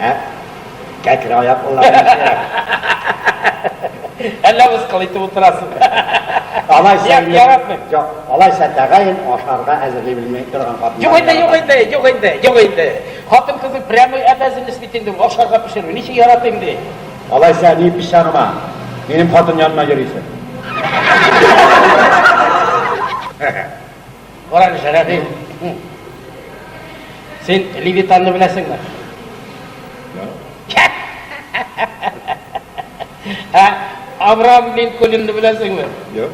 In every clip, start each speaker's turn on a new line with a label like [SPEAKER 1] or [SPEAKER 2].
[SPEAKER 1] Ә?
[SPEAKER 2] Кәкре аяк уллар.
[SPEAKER 1] Әллә мыскыл итеп утырасың.
[SPEAKER 2] Алайса, яратмыйм. Юк,
[SPEAKER 1] алайса
[SPEAKER 2] тәгаен ашарга әзерли белмәй торган хатын. Юк инде, юк инде, юк инде,
[SPEAKER 1] юк инде. Хатын кызы прямой обязанность бит инде ашарга пешерү. Ничек яратыйм ди? Алайса ни
[SPEAKER 2] пешарма? Минем хатын янына йөрисең.
[SPEAKER 1] Карагыз, Рәхим. Син Левитанны беләсеңме? Ә Авраам Линкольнны беләсеңме?
[SPEAKER 2] Юк.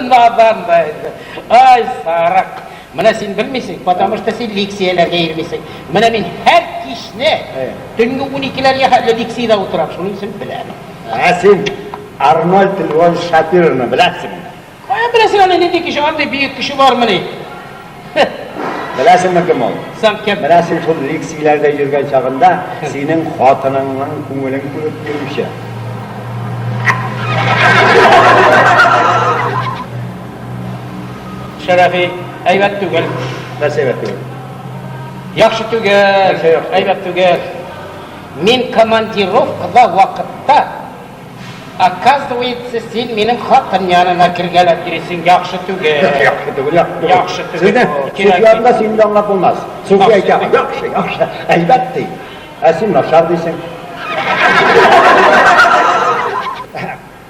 [SPEAKER 1] Надан да инде. Ай, сарык. Менә син белмисең, потому что син лекцияләргә йөрмисең. Менә мин һәр кичне төнге 12-ләргә хәтле лекциядә утырам, шуның өчен беләм. Ә син
[SPEAKER 2] Арнольд Львович Шапировны беләсеңме? Кая беләсең
[SPEAKER 1] аны нинди кеше, андый бөек кеше бармыни? Беләсеңме
[SPEAKER 2] кем ул? Саң кем? Менә син
[SPEAKER 1] шул лекцияләрдә
[SPEAKER 2] йөргән чагында синең хатыныңның күңелен күреп йөрүче.
[SPEAKER 1] Шәрәфи, әйбәт түгел. Нәрсә әйбәт
[SPEAKER 2] түгел? Яхшы
[SPEAKER 1] түгел, әйбәт түгел. Мин командировкада вакытта, оказывается, син минем хатын янына кергәләп йөрисең, яхшы түгел. Яхшы түгел, яхшы түгел. Яхшы түгел. Сезне, сез янында син дә
[SPEAKER 2] аңлап булмас. Суфи әйтә, яхшы, яхшы, әйбәт ди. Ә син начар дисең.